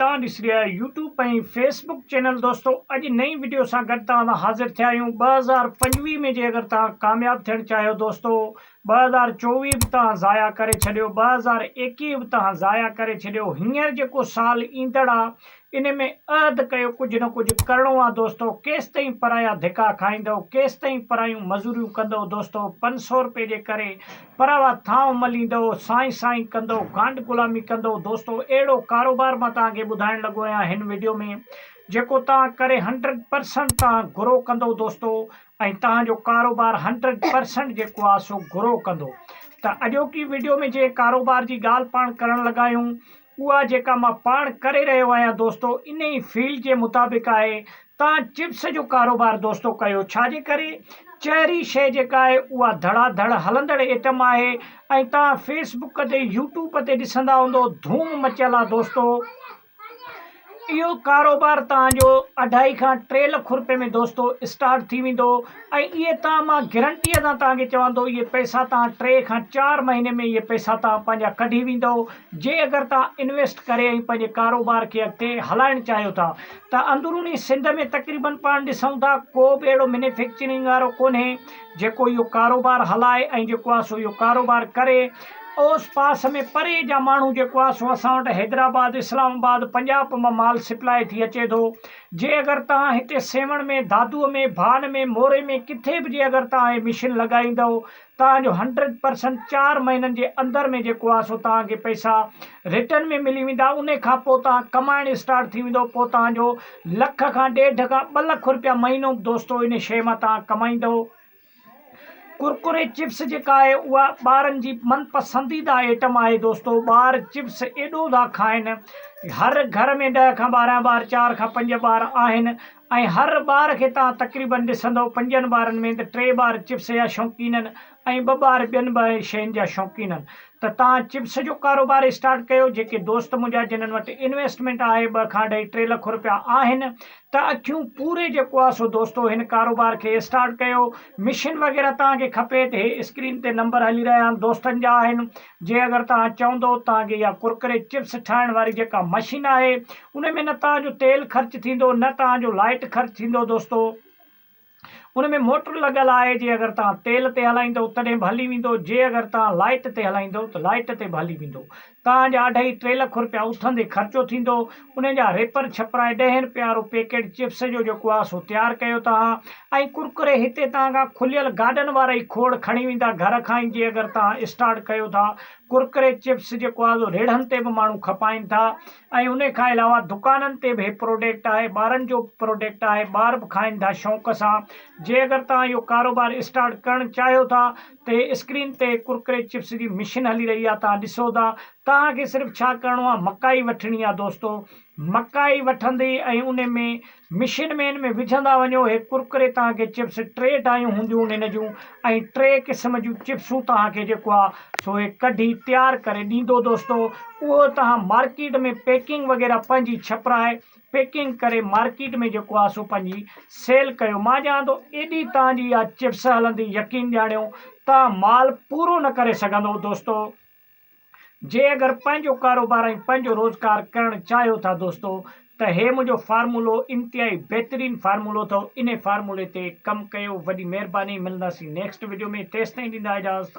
توهان ڏسي رهيا آهيو يوٽيوب ۽ فيس بڪ چينل دوستو اڄ نئين وڊيو سان گڏ توهان سان حاضر ٿيا آهيون ٻه هزار پنجويهه ۾ جي اگر توهان ڪامياب ٿيڻ چاهيو دوستو ٻه هزار چوويهه به توهان ضايع ڪري ڇڏيو ٻه هزار ايڪيهه به توهان ضايع ڪري ڇڏيو هينئر جيڪو سال ايندڙ آ ان ۾ عهد ڪيو ڪجهه نه ڪجهه ڪرڻو آ دوستو ڪيستائين پرايا ڌڪا کائيندؤ ڪيستائين پرايون مزوريون ڪندؤ دوستو پنج سؤ رپئي جي ڪري پر اها ٿانء مليندؤ، سائين سائين ڪندؤ، گانڊ غلامي ڪندؤ، دوستو اهڙو ڪاروبار مان توهان کي ٻڌائڻ لڳو آهيان هن وڊيو ۾ جيڪو توهان ڪري هنڊريڊ پرسنٽ توهان گرو ڪندؤ دوستو ۽ توهان جو ڪاروبار هنڊريڊ پرسنٽ جيڪو آهي سو گرو ڪندو ته اڄوڪي وڊيو ۾ جنهن ڪاروبار جي ڳالهه پاڻ ڪرڻ لڳا آهيون اها جيڪا مان پاڻ ڪري رهيو آهيان دوستو انهي فيلڊ جي مطابق آهي تان چپس جو ڪاروبار دوستو ڪيو ڇا جي ڪري چهري شئي جيڪا آهي اها ڌڙا ڌڙ هلندڙ ايٽم آهي ۽ تان فيس بڪ تي يوٽيوب تي ڏسندا هوندو ڌوم مچيل آهي دوستو. اهو ڪاروبار توهان جو اڍائي کان ٽي لک روپئي ۾ دوستو اسٽارٽ ٿي ويندو ۽ اهي توهان مان گرنٽيء سان توهان کي چوان ٿو اهي پئسا توهان ٽي کان چار مهيني ۾ اهي پئسا توهان پنهنجا ڪڍي ويندؤ جي اگر توهان انويسٽ ڪري ۽ پنهنجي ڪاروبار کي اڳتي هلائڻ چاهيو ٿا ته اندروني سنڌ ۾ تقريبن پاڻ ڏسون ٿا ڪو به اهڙو مينيفڪچرنگ وارو ڪونهي جيڪو اهو ڪاروبار هلائي ۽ جيڪو آ سو اهو ڪاروبار ڪري اوس پاس ۾ پري جا ماڻهو جيڪو آ سو اسان وٽ حيدرآباد اسلام آباد پنجاب مان مال سپلاء ٿي اچي ٿو جي اگر توهان هتي سيوهڻ ۾ دادوء ۾ ڀان ۾ موري ۾ ڪٿي به جي اگر توهان هي مشين لڳائيندؤ توهان جو هنڊريڊ پرسنٽ چار مهينن جي اندر ۾ جيڪو آ سو توهان کي پئسا رٽن ۾ ملي ويندا انهي کان پوء توهان ڪمائڻ اسٽارٽ ٿي ويندو پوء توهان جو لک کان ڏيڍ کان ٻه لک رپيا مهينو به دوستو انهي شيء مان توهان ڪمائيندؤ ڪرڪري چپس جيڪا آهي اها ٻارن جي من پسنديده ائٽم آهي دوستو ٻار چپس ايڏو ٿا کائن هر گهر ۾ ڏهه کان ٻارهن ٻار چار کان پنج ٻار آهن ۽ هر ٻار کي توهان تقريبن ڏسندؤ پنجن ٻارن ۾ ته ٽي ٻار چپس جا شوقينن ۽ ٻه ٻار ٻين به اهي شين جا شوقين هن ته تان چپس جو ڪاروبار اسٽارٽ ڪيو جيڪي دوست منهنجا جنهن وٽ انويسٽمينٽ آهي ٻه کان اڍائي ٽي لک روپيا آهن ته اکيون پوري جيڪو آهي سو دوستو هن ڪاروبار کي اسٽارٽ ڪيو مشين وغيره تان کي کپي ته هي اسڪرين تي نمبر هلي رهيا آهن دوستن جا آهن جي اگر تان چوندو تان کي اها ڪرڪري چپس ٺاهڻ واري جيڪا مشين آهي ان ۾ نه تان جو تيل خرچ ٿيندو نه تان جو لائيٽ خرچ ٿيندو دوستو ان ۾ موٽر لڳل آهي جي اگر توهان تيل تي هلائيندو تڏهن به هلي ويندو جي اگر توهان لائيٽ تي هلائيندو ته لائيٽ تي به هلي ويندو توهان جا اڍائي ٽي لک روپيا اٿندي خرچو ٿيندو ان جا ريپر ڇپرائي ڏهين روپيه وارو پيڪيٽ چپس جو جيڪو آهي سو تيار ڪيو توهان ۽ ڪرڪري هتي توهان کان کليل گاڏن وارا ئي کوڙ کڻي ويندا گهر کان ئي جي اگر توهان اسٽارٽ ڪيو ٿا ڪرڪري چپس جيڪو آهي سو ريڙهن تي به ماڻهو کپائين ٿا ۽ ان کان علاوه دڪانن تي به هي پروڊڪٽ آهي ٻارن جو به پروڊڪٽ آهي ٻار به کائن ٿا شوق سان جي اگر تهان اهو ڪاروبار اسٽارٽ ڪرڻ چاهيو ٿا ته هي اسڪرين تي ڪرڪري چپس جي مشين هلي رهي آهي تهان ڏسو ٿا تهان کي صرف ڇا ڪرڻو آهي مڪائي وٺڻي آهي دوستو مڪائي وٺندي ۽ ان ۾ مشين مين ۾ وجهندا وڃو هي ڪرڪري تان کي چپس ٽي ڊايون هونديون ان هن جون ۽ ٽي قسم جون چپسون تان کي جيڪو آ سو هي ڪڍي تيار ڪري ڏيندو دوستو اهو تان مارڪيٽ ۾ پيڪنگ وغيره پنهنجي ڇپرائي پيڪنگ ڪري مارڪيٽ ۾ جيڪو آ سو پنهنجي سيل ڪيو مان ڄاڻان ٿو ايڏي تان جي آ چپس هلندي يقين ڄاڻيو تان مال پورو نه ڪري سگهندو دوستو جي اگر پنهنجو ڪاروبار ۽ پنهنجو روزگار ڪرڻ چاهيو ٿا دوستو ته هي منهنجو فارمولو انتهائي بهترين فارمولو اٿو انهي فارمولي تي ڪم ڪيو وڏي مهرباني ملنداسين نيڪسٽ وڊيو ۾ تيستائين ڏيندا اجازت.